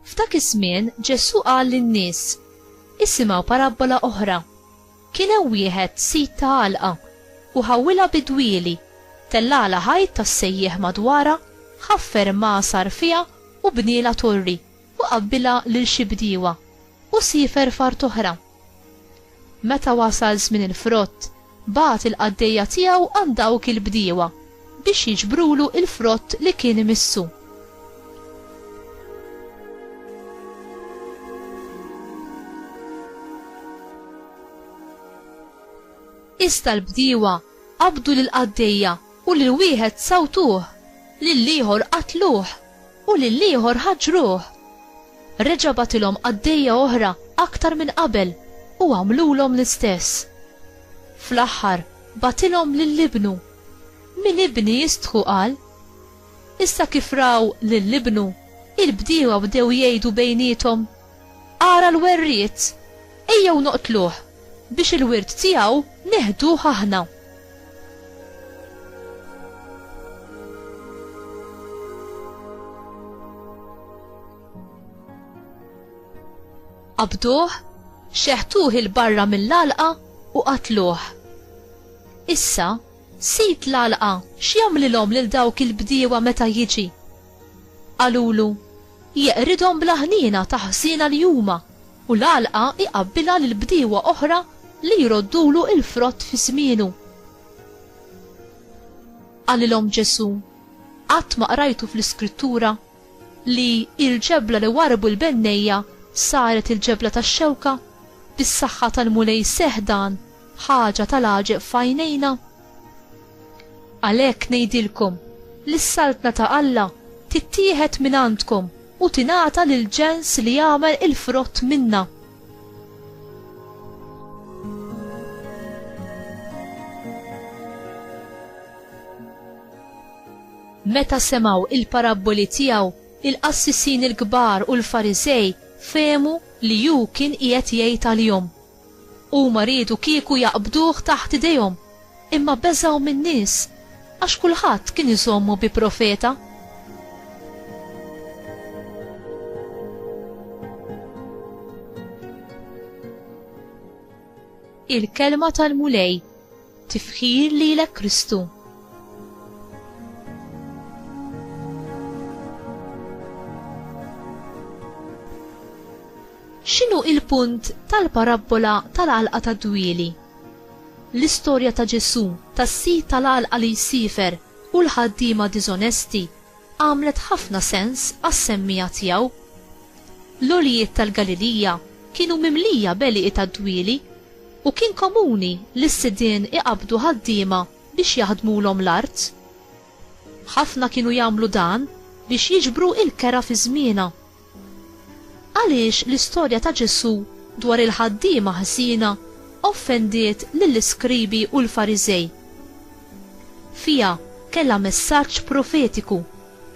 F'dak iż-żmien Ġesù qal lin-nies, isimgħu parabbola oħra. Kien hemm wieħed sid ta' għalqa u ħawwilha bidwieli, tellagħla ħajt tas-sejjieħ madwarha, ħaffer imgħasar fiha u bnielha torri u qabbilha lil xi bdiewa u siefer f'art oħra. Meta wasal żmien il-frott, bagħat il-qaddejja tiegħu għand dawk il-bdiewa biex jiġbrulu l-frott li kien imissu. Iżda l-bdiewa qabdu lill-qaddejja u lil wieħed sawtuh, lill-ieħor qatluh U lill-ieħor ħaġġruh. Reġa' bagħtilhom qaddejja oħra aktar minn qabel u għamlulhom l-istess. Fl-aħħar bagħtilhom lil ibnu. Min ibni jistħu qal. Issa kif raw lil ibnu, il-bdiewa bdew jgħidu bejniethom, Ara l-werriet! Ejjew noqtluh, biex il-wirt tiegħu neħduh aħna. Qabduh, xeħtuh 'il barra mill-għalqa u qatluh. Issa, sid l-għalqa x'jagħmlilhom lil dawk il-bdiewa meta jiġi? Qalulu, Jeqridhom bla ħniena ta' ħsiena li huma, u l-għalqa jqabbilha lil bdiewa oħra li jroddulu l-frott fi żmienu. Qalilhom Ġesù, Qatt ma qrajtu fl-Iskrittura li l-ġebla li warrbu l-bennejja saret il-ġebla tax-xewka? Bis-saħħa tal-Mulej seħħ dan, ħaġa tal-għaġeb f'għajnejna. Għalhekk ngħidilkom li s-saltna ta' Alla tittieħed minn għandkom u tingħata lil ġens li jagħmel il-frott minnha. Meta semgħu il-parabboli tiegħu, il-qassisin il-kbar u l-Fariżej fehmu li hu kien qiegħed jgħid għalihom. Huma riedu kieku jaqbduh taħt idejhom, imma beżgħu min-nies, għax kulħadd kien iżommu bi profeta. Il-Kelma tal-Mulej Tifħir lilek Kristu. X'inhu il-punt tal-parabbola tal-għalqa tad-dwieli? L-istorja ta' Ġesù tas-sid tal-għalqa li jsifer u l-ħaddiema diżonesti għamlet ħafna sens għas-semmiegħa tiegħu. L-għoljiet tal-Galilija kienu mimlija b'għelieqi tad-dwieli U kien komuni li s-sidien iqabbdu ħaddiema biex jaħdmulhom l-art. Ħafna kienu jagħmlu dan biex jiġbru l-kera fi żmienha. Għaliex l-istorja ta' Ġesù dwar il-ħaddiema ħżiena offendiet lill-iskribi u l-Fariżej? Fiha kellha messaġġ profetiku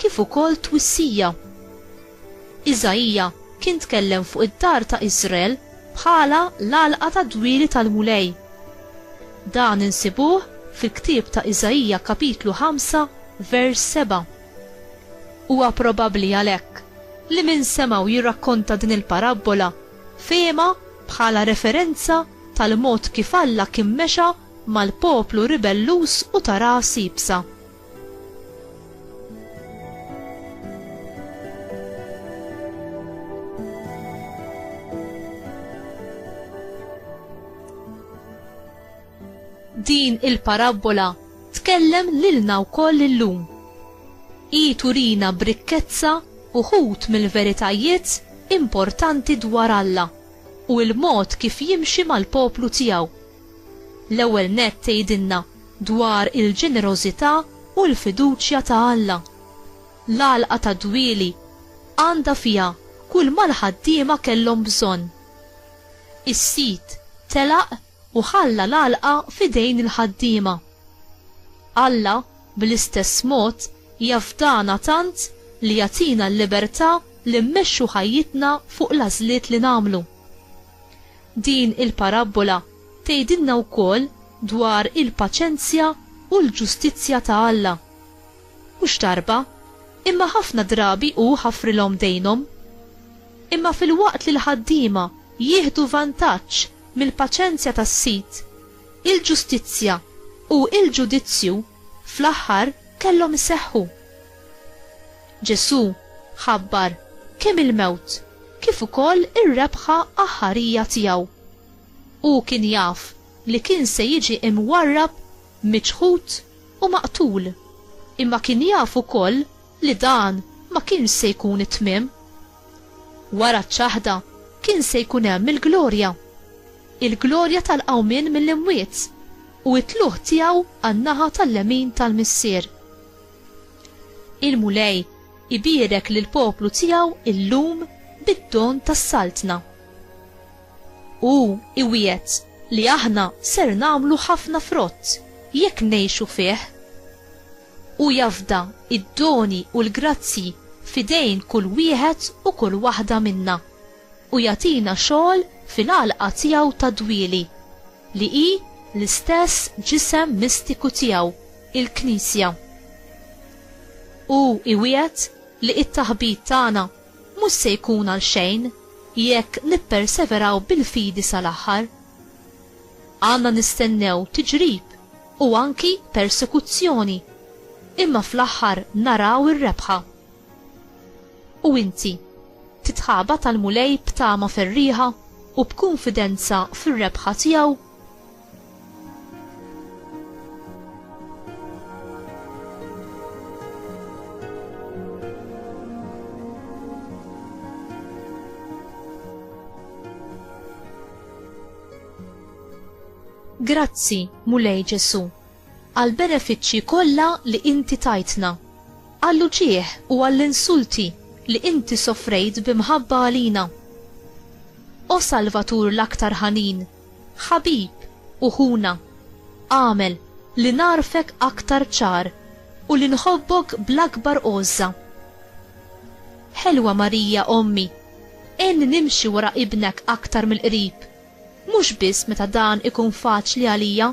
kif ukoll twissija. Iżaija kien tkellem fuq id-dar ta' Iżrael bħala l-għalqa tad-dwieli tal-Mulej. Dan insibuh fil-ktieb ta' Iżaija kapitlu 5 vers 7. Huwa probabbli għalhekk li min semgħu jirrakkonta din il-parabbola fehimha bħala referenza tal-mod kif Alla kien mexa mal-poplu ribelluż u ta' ras iebsa. Din il-parabbola tkellem lilna wkoll illum. Hi turina b'rikkezza uħud mill-veritajiet importanti dwar Alla u l-mod kif jimxi mal-poplu tiegħu. L-ewwel nett tgħidilna dwar il-ġenerożità u l-fiduċja ta' Alla. L-għalqa tad-dwieli għandha fiha kulma l-ħaddiema kellhom bżonn. Is-sid telaq u ħalla l-għalqa f'idejn il-ħaddiema. Alla, bl-istess mod, jafdana tant li jagħtina l-libertà li mmexxu ħajjitna fuq l-għażliet li nagħmlu. Din il-parabbola tgħidilna wkoll dwar il-paċenzja u l-ġustizzja ta' Alla. Mhux darba, imma ħafna drabi hu ħafrilhom dejnhom. Imma filwaqt li l-ħaddiema jieħdu vantaġġ mill-paċenzja tas-sid, il-ġustizzja u l-ġudizzju fl-aħħar kellhom iseħħu. Ġesù ħabbar kemm il-mewt kif ukoll ir-rebħa aħħarija tiegħu. Hu kien jaf li kien se jiġi mwarrab, miċħud u maqtul, imma kien jaf ukoll li dan ma kienx se jkun it-tmiem. Wara ċ-ċaħda kien se jkun hemm il-glorja, il-glorja tal-qawmien mill-imwiet u t-tlugħ tiegħu għan-naħa tal-lemin tal-Missier. Il-Mulej ibierek lill-poplu tiegħu llum bid-don tas-Saltna. Hu iwiegħed li aħna ser nagħmlu ħafna frott jekk ngħixu fih. Hu jafda d-doni u l-grazzji f'idejn kull wieħed u kull waħda minna u jagħtina xogħol fil-għalqa tiegħu tad-dwieli. li hi l-istess ġisem mistiku tiegħu, il-Knisja. Hu iwiegħed li t-taħbit tagħna mhux se jkun għal xejn jekk nipperseveraw bil-fidi sal-aħħar. Għandna nistennew tiġrib u anki persekuzzjoni, imma fl-aħħar naraw ir-rebħa. U inti? Titħabat għall-Mulej b'tama ferrieħa u b'kunfidenza fir-rebħa tiegħu? Grazzi, Mulej Ġesù, għall-benefiċċji kollha li inti tajtna. Għall-uġigħ u għall-insulti li Inti sofrejt bi mħabba għalina. O Salvatur l-aktar ħanin, Ħabib u Ħuna, agħmel li nagħrfek aktar ċar u li nħobbok bl-akbar għożża. Ħelwa Marija Ommi, għinni nimxi wara Ibnek aktar mill-qrib, mhux biss meta dan ikun faċli għalija,